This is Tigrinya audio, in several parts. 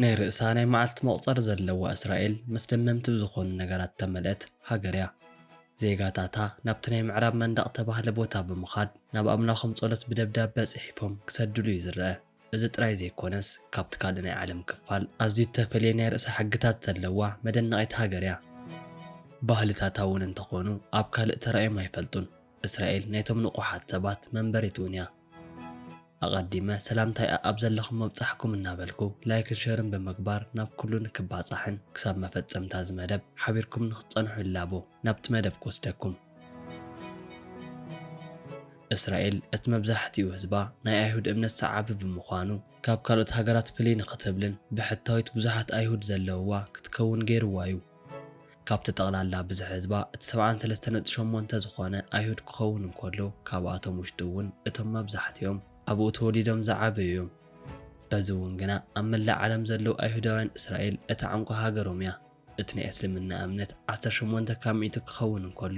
ናይ ርእሳ ናይ መዓልቲ መቑጸሪ ዘለዋ እስራኤል ምስ ደመምቲ ብዝኾኑ ነገራት እተመልአት ሃገር እያ። ዜጋታታ ናብቲ ናይ ምዕራብ መንደቕ እተባህለ ቦታ ብምኻድ ናብ ኣምላኾም ጸሎት ብደብዳበ ጽሒፎም ክሰድሉ እዩ ዝረኣ። እዚ ጥራይ ዘይኮነስ ካብቲ ካልእ ናይ ዓለም ክፋል ኣዝዩ እተፈልየ ናይ ርእሳ ሕግታት ዘለዋ መደነቒት ሃገር እያ። ባህልታታ እውን እንተኾኑ ኣብ ካልእ ተራእዮም ኣይፈልጡን። እስራኤል ናይቶም ንቁሓት ሰባት መንበሪት እውን እያ። ኣቀዲመ ሰላምታይ ኣኣብ ዘለኹሞ ብጻሕኩም እናበልኩ ላይክን ሸርን ብምግባር ናብ ኩሉ ንክባጻሕን ክሳብ መፈጸምታ እዚ መደብ ሓቢርኩም ንክትጸንሑ እላቦ። ናብቲ መደብ ክወስደኩም። እስራኤል እቲ መብዛሕቲኡ ህዝባ ናይ ኣይሁድ እምነት ሰዓቢ ብምዃኑ ካብ ካልኦት ሃገራት ፍልይ ንክትብልን ብሕታዊት ብዙሓት ኣይሁድ ዘለውዋ ክትከውን ገይርዋ እዩ። ካብቲ ጠቕላላ ብዝሒ ህዝባ እቲ ሰብዓን ሰለስተ ነጥቢ ሸሞንተ ዝኾነ ኣይሁድ ክኸውን እንከሎ ካብኣቶም ውሽጢ እውን እቶም መብዛሕቲኦም ኣብኡ ተወሊዶም ዝዓበዩ እዮም። በዚ እውን ግና ኣብ መላእ ዓለም ዘለዉ ኣይሁዳውያን እስራኤል እታ ዕንቋ ሃገሮም እያ። እቲ ናይ እስልምና እምነት ዓሰርተ ሸሞንተ ካብ ሚእቲ ክኸውን እንከሎ፣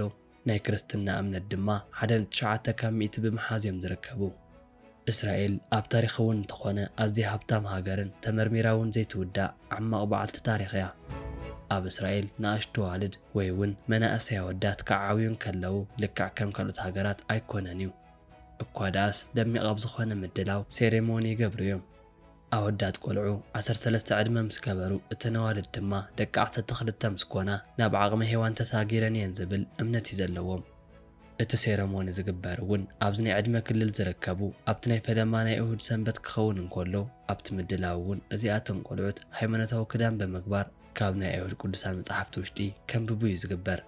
ናይ ክርስትና እምነት ድማ ሓደ ነጥቢ ትሽዓተ ካብ ሚእቲ ብምሓዝ እዮም ዝርከቡ። እስራኤል ኣብ ታሪኽ እውን እንተኾነ ኣዝያ ሃብታም ሃገርን ተመርሚራ እውን ዘይትውዳእ ዓማቕ በዓልቲ ታሪኽ እያ። ኣብ እስራኤል ንኣሽቱ ኣዋልድ ወይ እውን መናእሰይ ኣወዳት ክዓብዩ እንከለዉ ልክዕ ከም ካልኦት ሃገራት ኣይኮነን እዩ። እኳ ደኣስ ደሚቕ ኣብ ዝኾነ ምድላው፣ ሴሬሞኒ፣ ይገብሩ እዮም። ኣወዳት ቆልዑ ዓሰርተ ሰለስተ ዕድመ ምስ ገበሩ፣ እተን ኣዋልድ ድማ ደቂ ዓሰርተ ክልተ ምስ ኮና ናብ ዓቕመ ሄዋን ተሳጊረን እየን ዝብል እምነት እዩ ዘለዎም። እቲ ሴረሞኒ ዝግበር እውን ኣብዚ ናይ ዕድመ ክልል ዝርከቡ ኣብቲ ናይ ፈለማ ናይ እሁድ ሰንበት ክኸውን እንከሎ ኣብቲ ምድላው እውን እዚኣቶም ቆልዑት ሃይማኖታዊ ክዳን ብምግባር ካብ ናይ ኣይሁድ ቅዱሳን መጻሕፍቲ ውሽጢ ከንብቡ እዩ ዝግበር።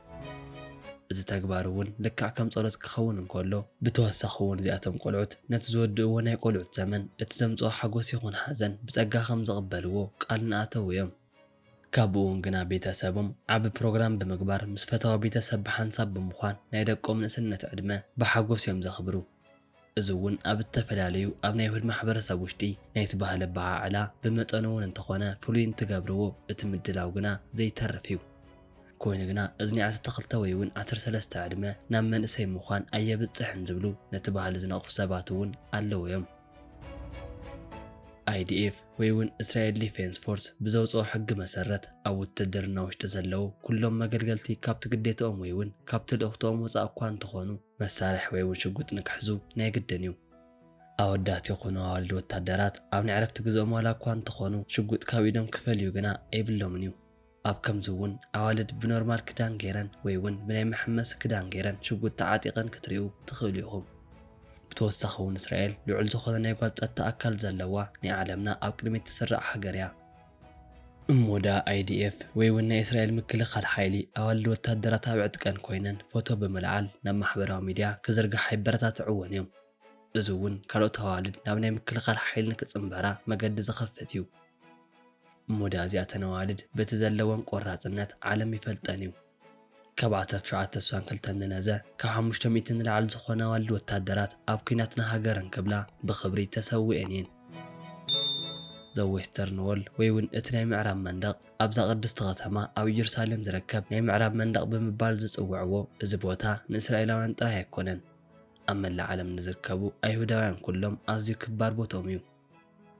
እዚ ተግባር እውን ልክዕ ከም ጸሎት ክኸውን እንከሎ፣ ብተወሳኺ እውን እዚኣቶም ቆልዑት ነቲ ዝወድእዎ ናይ ቆልዑት ዘመን እቲ ዘምጽኦ ሓጎስ ይኹን ሓዘን ብጸጋ ከም ዝቕበልዎ ቃል እናኣተዉ እዮም። ካቡኡውን ግና ቤተ ሰቦም ዓቢ ፕሮግራም ብምግባር ምስ ፈታዊ ቤተ ሰብ ብሓንሳብ ብምዃን ናይ ደቆም ንእስነት ዕድመ ብሓጎስ እዮም ዘኽብሩ። እዚ እውን ኣብ እተፈላለዩ ኣብ ናይ ይሁድ ማሕበረሰብ ውሽጢ ናይቲ ባህሊ ኣበዓዕላ ብመጠኑ እውን እንተኾነ ፍሉይ እንትገብርዎ እቲ ምድላው ግና ዘይተርፍ እዩ። ኮይኑ ግና እዚ ናይ ዓሰርተ ክልተ ወይ እውን ዓሰርተ ሰለስተ ዕድመ ናብ መንእሰይ ምዃን ኣየብጽሕን ዝብሉ ነቲ ባህሊ ዝነቕፉ ሰባት እውን ኣለዉ እዮም። IDF ወይ እውን እስራኤል ዲፌንስ ፎርስ ብዘውጽኦ ሕጊ መሰረት ኣብ ውትድርና ውሽጢ ዘለዉ ኩሎም መገልገልቲ ካብቲ ግዴትኦም ወይ እውን ካብቲ ልእኽትኦም ወጻእ እኳ እንተኾኑ መሳርሒ ወይ እውን ሽጉጥ ንክሕዙ ናይ ግድን እዩ። ኣወዳት ይኹኑ ኣዋልድ ወታደራት ኣብ ናይ ዕረፍቲ ግዘኦም ዋላ እኳ እንተኾኑ ሽጉጥ ካብ ኢዶም ክፈልዩ ግና የብሎምን እዩ። ኣብ ከምዚ እውን ኣዋልድ ብኖርማል ክዳን ገይረን ወይ እውን ብናይ መሐመሲ ክዳን ገይረን ሽጉጥ ተዓጢቐን ክትሪኡ ትኽእሉ ኢኹም። ብተወሳኺ እውን እስራኤል ልዑል ዝኾነ ናይ ጓል ፀጥታ ኣካል ዘለዋ ናይ ዓለምና ኣብ ቅድሚት ትስራዕ ሃገር እያ። እሞ ደኣ ኣይዲኤፍ ወይ ውን ናይ እስራኤል ምክልኻል ሓይሊ ኣዋልድ ወታደራት ኣብ ዕጥቀን ኮይነን ፎቶ ብምልዓል ናብ ማሕበራዊ ሚድያ ክዝርግሓ የበረታትዕወን እዮም። እዚ ውን ካልኦት ኣዋልድ ናብ ናይ ምክልኻል ሓይሊ ንክፅምበራ መገዲ ዝኸፍት እዩ። እሞ ደኣ እዚኣተን ኣዋልድ በቲ ዘለወን ቆራፅነት ዓለም ይፈልጠን እዩ። ካብ ዓሰርተ ትሽዓተ ስሳን ክልተን ንነዘ፣ ካብ ሓሙሽተ ሚእቲ ንላዕሊ ዝኾና ኣዋልድ ወታደራት ኣብ ኩናት ንሃገረን ክብላ ብኽብሪ ተሰዊኤን እየን። The Western Wall ወይ ውን እቲ ናይ ምዕራብ መንደቕ፣ ኣብዛ ቅድስቲ ከተማ ኣብ እየሩሳሌም ዝርከብ ናይ ምዕራብ መንደቕ ብምባል ዝጽውዕዎ እዚ ቦታ ንእስራኤላውያን ጥራይ ኣይኮነን። ኣብ መላእ ዓለም ንዝርከቡ ኣይሁዳውያን ኩሎም ኣዝዩ ክባር ቦትኦም እዩ።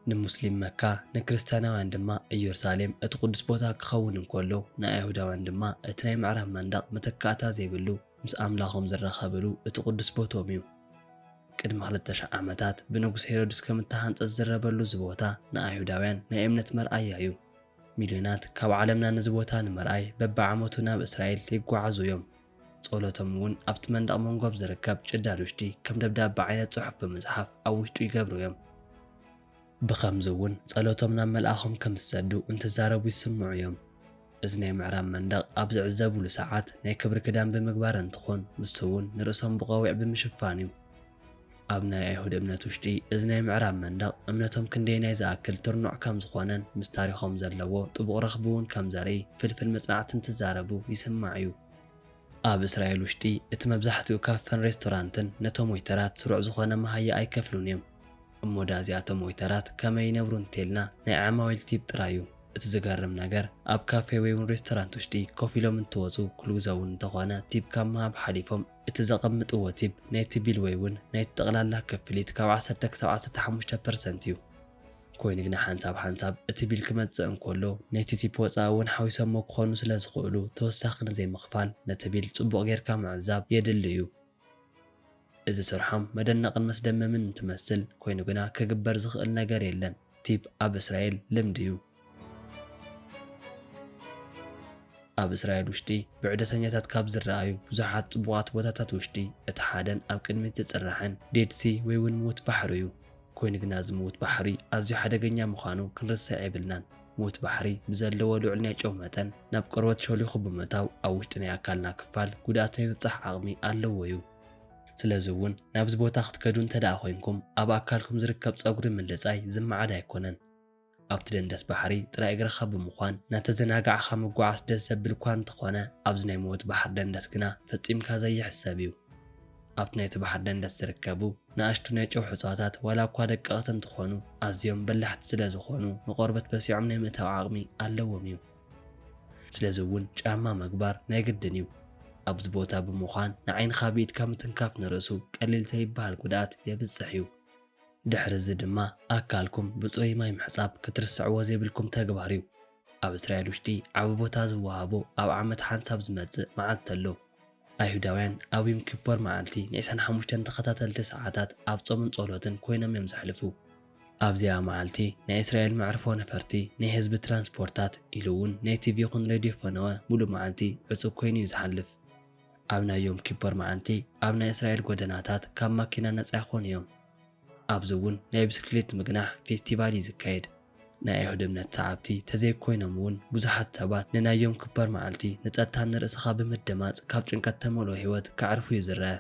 ንሙስሊም መካ ንክርስትያናውያን ድማ እዮርሳሌም እቲ ቅዱስ ቦታ ክኸውን እንከሎ ንኣይሁዳውያን ድማ እቲ ናይ ምዕራብ መንደቕ መተካእታ ዘይብሉ ምስ ኣምላኾም ዝራኸብሉ እቲ ቅዱስ ቦትኦም እዩ። ቅድሚ ክልተ ሽሕ ዓመታት ብንጉስ ሄሮድስ ከም እተሃንጸ ዝዝረበሉ እዚ ቦታ ንኣይሁዳውያን ናይ እምነት መርኣያ እዩ። ሚልዮናት ካብ ዓለምና ነዚ ቦታ ንምርኣይ በብዓመቱ ናብ እስራኤል ይጓዓዙ እዮም። ጸሎቶም እውን ኣብቲ መንደቕ መንጎ ኣብ ዝርከብ ጭዳድ ውሽጢ ከም ደብዳበ ዓይነት ጽሑፍ ብምጽሓፍ ኣብ ውሽጡ ይገብሩ እዮም። ብኸምዚ እውን ጸሎቶም ናብ መልኣኾም ከም ዝሰዱ እንትዛረቡ ይስምዑ እዮም። እዚ ናይ ምዕራብ መንደቕ ኣብ ዝዕዘቡሉ ሰዓት ናይ ክብሪ ክዳን ብምግባር እንትኾን ንሱ እውን ንርእሶም ብቆቢዕ ብምሽፋን እዩ። ኣብ ናይ ኣይሁድ እምነት ውሽጢ እዚ ናይ ምዕራብ መንደቕ እምነቶም ክንደየናይ ዝኣክል ትርኑዕ ከም ዝኾነን ምስ ታሪኾም ዘለዎ ጥቡቕ ረኽቢ እውን ከም ዘርኢ ፍልፍል መጽናዕቲ እንትዛረቡ ይስማዕ እዩ። ኣብ እስራኤል ውሽጢ እቲ መብዛሕትኡ ካፈን ሬስቶራንትን ነቶም ወይተራት ስሩዕ ዝኾነ መሃያ ኣይከፍሉን እዮም። እሞ ድኣ እዚኣቶም ወይተራት ከመይ ይነብሩ እንተይልና ናይ ዓማዊል ቲፕ ጥራይ እዩ። እቲ ዝገርም ነገር ኣብ ካፌ ወይውን ሬስቶራንት ውሽጢ ኮፍ ኢሎም እንትወጹ ኩሉግዘውን እንተኾነ ቲፕ ካብ ምሃብ ሓሊፎም እቲ ዘቐምጥዎ ቲፕ ናይቲ ቢል ወይ እውን ናይቲ ጠቕላላ ክፍሊት ካብ ዓሰርተ ክሳብ ዓሰርተ ሓሙሽተ ፐርሰንት እዩ። ኮይኑ ግና ሓንሳብ ሓንሳብ እቲ ቢል ክመጽእ እንከሎ ናይቲ ቲፕ ወጻኢ እውን ሓዊሶሞ ክኾኑ ስለ ዝኽእሉ ተወሳኺ ንዘይምኽፋል ነቲ ቢል ጽቡቕ ጌርካ ምዕዛብ የድሊ እዩ። እዚ ስርሖም መደነቕን መስደመምን እንትመስል ኮይኑ ግና ክግበር ዝኽእል ነገር የለን። ቲፕ ኣብ እስራኤል ልምዲ እዩ። ኣብ እስራኤል ውሽጢ ብዕደተኛታት ካብ ዝረኣዩ ብዙሓት ጽቡቓት ቦታታት ውሽጢ እቲ ሓደን ኣብ ቅድሚት ዝጽራሕን ዴድ ሲ ወይ እውን ምዉት ባሕሩ እዩ። ኮይኑ ግና እዚ ምዉት ባሕሪ ኣዝዩ ሓደገኛ ምዃኑ ክንርስዕ የብልናን። ምዉት ባሕሪ ብዘለዎ ልዑል ናይ ጨው መጠን ናብ ቆርበት ሾሊኹ ብምእታው ኣብ ውሽጢ ናይ ኣካልና ክፋል ጉድኣት ናይ ምብጻሕ ዓቕሚ ኣለዎ እዩ። ስለዚ እውን ናብዚ ቦታ ክትከዱ እንተድኣ ኮይንኩም ኣብ ኣካልኩም ዝርከብ ፀጉሪ ምልፃይ ዝመዓድ ኣይኮነን። ኣብቲ ደንደስ ባሕሪ ጥራይ እግርኻ ብምኳን እናተዘናጋዕኻ ምጉዓስ ደስ ዘብል እኳ እንተኾነ ኣብዚ ናይ ሞት ባሕሪ ደንደስ ግና ፈፂምካ ዘይሕሰብ እዩ። ኣብቲ ናይቲ ባሕሪ ደንደስ ዝርከቡ ንኣሽቱ ናይ ጨውሒ እፅዋታት ዋላ እኳ ደቀቕቲ እንትኾኑ ኣዝዮም በላሕቲ ስለዝኾኑ ንቖርበት በሲዖም ናይ ምእታው ዓቕሚ ኣለዎም እዩ። ስለዚ እውን ጫማ ምግባር ናይ ግድን እዩ። ኣብዚ ቦታ ብምዃን ንዓይንኻ ብኢድካ ምትንካፍ ንርእሱ ቀሊል ዘይበሃል ጉድኣት የብፅሕ እዩ። ድሕሪ እዚ ድማ ኣካልኩም ብፅሩይ ማይ ምሕፃብ ክትርስዕዎ ዘይብልኩም ተግባር እዩ። ኣብ እስራኤል ውሽጢ ዓቢ ቦታ ዝወሃቦ ኣብ ዓመት ሓንሳብ ዝመፅእ መዓልቲ ኣሎ። ኣይሁዳውያን ኣብ ዩም ኪፖር መዓልቲ ንዒስራን ሓሙሽተን ተኸታተልቲ ሰዓታት ኣብ ጾምን ጸሎትን ኮይኖም እዮም ዘሕልፉ። ኣብዚኣ መዓልቲ ናይ እስራኤል መዕርፎ ነፈርቲ፣ ናይ ህዝቢ ትራንስፖርታት ኢሉ እውን ናይ ቲቪ ይኹን ሬድዮ ፈነወ ምሉእ መዓልቲ ዕጹው ኮይኑ እዩ ዝሓልፍ። ኣብ ናይ ዩም ኪፖር መዓልቲ ኣብ ናይ እስራኤል ጎደናታት ካብ ማኪና ነጻ ይኾኑ እዮም። ኣብዚ እውን ናይ ብስክሊት ምግናሕ ፌስቲቫል እዩ ዝካየድ። ናይ ኣይሁድ እምነት ሰዓብቲ ተዘይኮይኖም እውን ብዙሓት ሰባት ንናይ ዮም ክፐር መዓልቲ ንጸጥታ ንርእስኻ ብምድማጽ ካብ ጭንቀት እተመልኦ ህይወት ከዕርፉ እዩ ዝረኣ።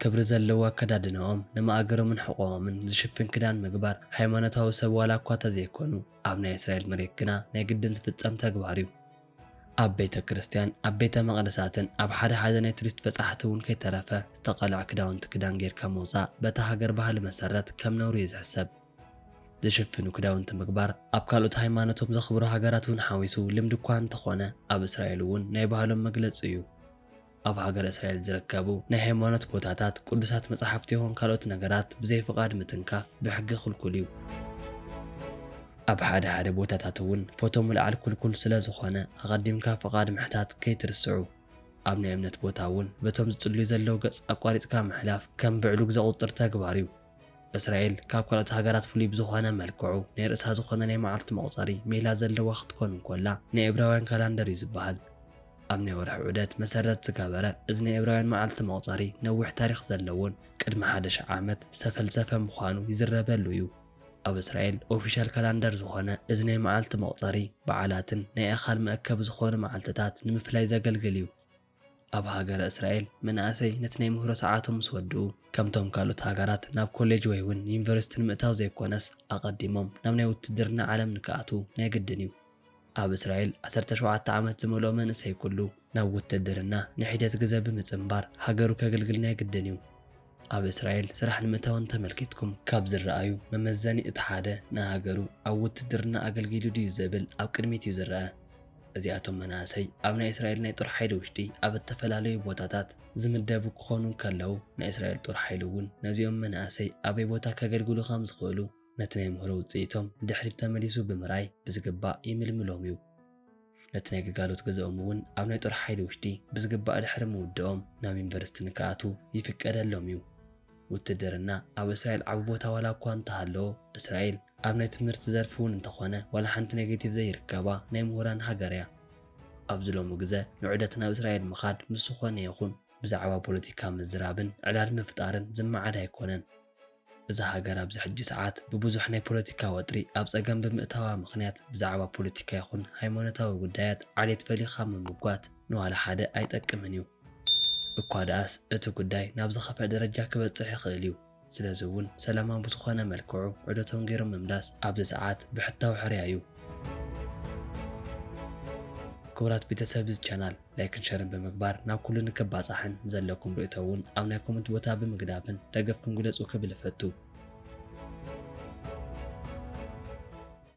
ክብሪ ዘለዎ ኣከዳድናኦም፣ ንማእገሮምን ሕቖኦምን ዝሽፍን ክዳን ምግባር፣ ሃይማኖታዊ ሰብ ዋላ እኳ ተዘይኮኑ፣ ኣብ ናይ እስራኤል መሬት ግና ናይ ግድን ዝፍጸም ተግባር እዩ። ኣብ ቤተ ክርስቲያን፣ ኣብ ቤተ መቕደሳትን ኣብ ሓደ ሓደ ናይ ቱሪስት በጻሕቲ እውን ከይተረፈ ዝተቐልዐ ክዳውንቲ ክዳን ጌርካ ምውጻእ በታ ሃገር ባህሊ መሰረት ከም ነውሪ እዩ ዝሕሰብ። ዝሽፍኑ ክዳውንቲ ምግባር ኣብ ካልኦት ሃይማኖቶም ዘኽብሩ ሃገራት እውን ሓዊሱ ልምዲ እኳ እንተኾነ ኣብ እስራኤል እውን ናይ ባህሎም መግለጺ እዩ። ኣብ ሃገረ እስራኤል ዝርከቡ ናይ ሃይማኖት ቦታታት፣ ቅዱሳት መጻሕፍቲ ይኹን ካልኦት ነገራት ብዘይ ፍቓድ ምትንካፍ ብሕጊ ክልኩል እዩ። ኣብ ሓደ ሓደ ቦታታት እውን ፎቶ ምልዓል ክልኩል ስለ ዝኾነ ኣቐዲምካ ፍቓድ ምሕታት ከይትርስዑ። ኣብ ናይ እምነት ቦታ እውን በቶም ዝጽልዩ ዘለዉ ገጽ ኣቋሪጽካ ምሕላፍ ከም ብዕሉግ ዘቑጽር ተግባር እዩ። እስራኤል ካብ ካልኦት ሃገራት ፍሉይ ብዝኾነ መልክዑ ናይ ርእሳ ዝኾነ ናይ መዓልቲ መቑጸሪ ሜላ ዘለዋ ክትኮን እንኮላ ናይ እብራውያን ካላንደር እዩ ዝበሃል። ኣብ ናይ ወርሒ ዑደት መሰረት ዝገበረ እዚ ናይ እብራውያን መዓልቲ መቑጸሪ ነዊሕ ታሪኽ ዘለዎን ቅድሚ ሓደ ሽሕ ዓመት ዝተፈልሰፈ ምዃኑ ይዝረበሉ እዩ። ኣብ እስራኤል ኦፊሻል ካላንደር ዝኾነ እዚ ናይ መዓልቲ መቑጸሪ በዓላትን ናይ ኣካል መእከቢ ዝኾኑ መዓልትታት ንምፍላይ ዘገልግል እዩ። ኣብ ሃገረ እስራኤል፣ መናእሰይ ነቲ ናይ ምህሮ ሰዓቶም ምስ ወድኡ፣ ከምቶም ካልኦት ሃገራት ናብ ኮሌጅ ወይ ውን ዩኒቨርሲቲ ንምእታው ዘይኮነስ ኣቐዲሞም ናብ ናይ ውትድርና ዓለም ንክኣትዉ ናይ ግድን እዩ። ኣብ እስራኤል ዓሰርተ ሸውዓተ ዓመት ዝመልኦ መንእሰይ ኩሉ ናብ ውትድርና ንሒደት ግዘ ብምጽንባር ሃገሩ ከግልግል ናይ ግድን እዩ። ኣብ እስራኤል ስራሕ ንምእታው እንተመልኪትኩም ካብ ዝረኣዩ መመዘኒ እቲ ሓደ ንሃገሩ ኣብ ውትድርና ኣገልጊሉ ድዩ ዘብል ኣብ ቅድሚት እዩ ዝረኣ። እዚኣቶም መናእሰይ ኣብ ናይ እስራኤል ናይ ጦር ሓይሊ ውሽጢ ኣብ እተፈላለዩ ቦታታት ዝምደቡ ክኾኑ እንከለዉ ናይ እስራኤል ጦር ሓይሊ እውን ነዚኦም መናእሰይ ኣበይ ቦታ ከገልግሉ ከም ዝኽእሉ ነቲ ናይ ምህሮ ውጽኢቶም ንድሕሪት ተመሊሱ ብምርኣይ ብዝግባእ ይምልምሎም እዩ። ነቲ ናይ ግልጋሎት ግዘኦም እውን ኣብ ናይ ጦር ሓይሊ ውሽጢ ብዝግባእ ድሕሪ ምውደኦም ናብ ዩኒቨርሲቲ ንክኣትዉ ይፍቀደሎም እዩ። ውትድርና ኣብ እስራኤል ዓቢ ቦታ ዋላ እኳ እንተሃለዎ፣ እስራኤል ኣብ ናይ ትምህርቲ ዘርፊ እውን እንተኾነ ዋላ ሓንቲ ኔጌቲቭ ዘይርከባ ናይ ምሁራን ሃገር እያ። ኣብዚ ሎሚ ግዘ ንዑደት ናብ እስራኤል ምኻድ ምስ ዝኾነ ይኹን ብዛዕባ ፖለቲካ ምዝራብን ዕላል ምፍጣርን ዝመዓድ ኣይኮነን። እዛ ሃገር ኣብዚ ሕጂ ሰዓት ብብዙሕ ናይ ፖለቲካ ወጥሪ ኣብ ጸገም ብምእታዋ ምኽንያት ብዛዕባ ፖለቲካ ይኹን ሃይማኖታዊ ጉዳያት ዓሌት ፈሊኻ ምምጓት ንዋላ ሓደ ኣይጠቅምን እዩ። እኳ ደኣስ እቲ ጉዳይ ናብ ዝኸፍኣ ደረጃ ክበጽሕ ይኽእል እዩ። ስለዚ እውን ሰላማዊ ብዝኾነ መልክዑ ዑደቶም ገይሮም ምምላስ ኣብዚ ሰዓት ብሕታዊ ሕርያ እዩ። ክቡራት ቤተሰብ እዚ ቻናል። ላይክን ሸርን ብምግባር ናብ ኩሉ ንክባጻሕን ዘለኩም ርእቶ እውን ኣብ ናይ ኮመንት ቦታ ብምግዳፍን ደገፍኩም ግለጹ ክብል እፈቱ።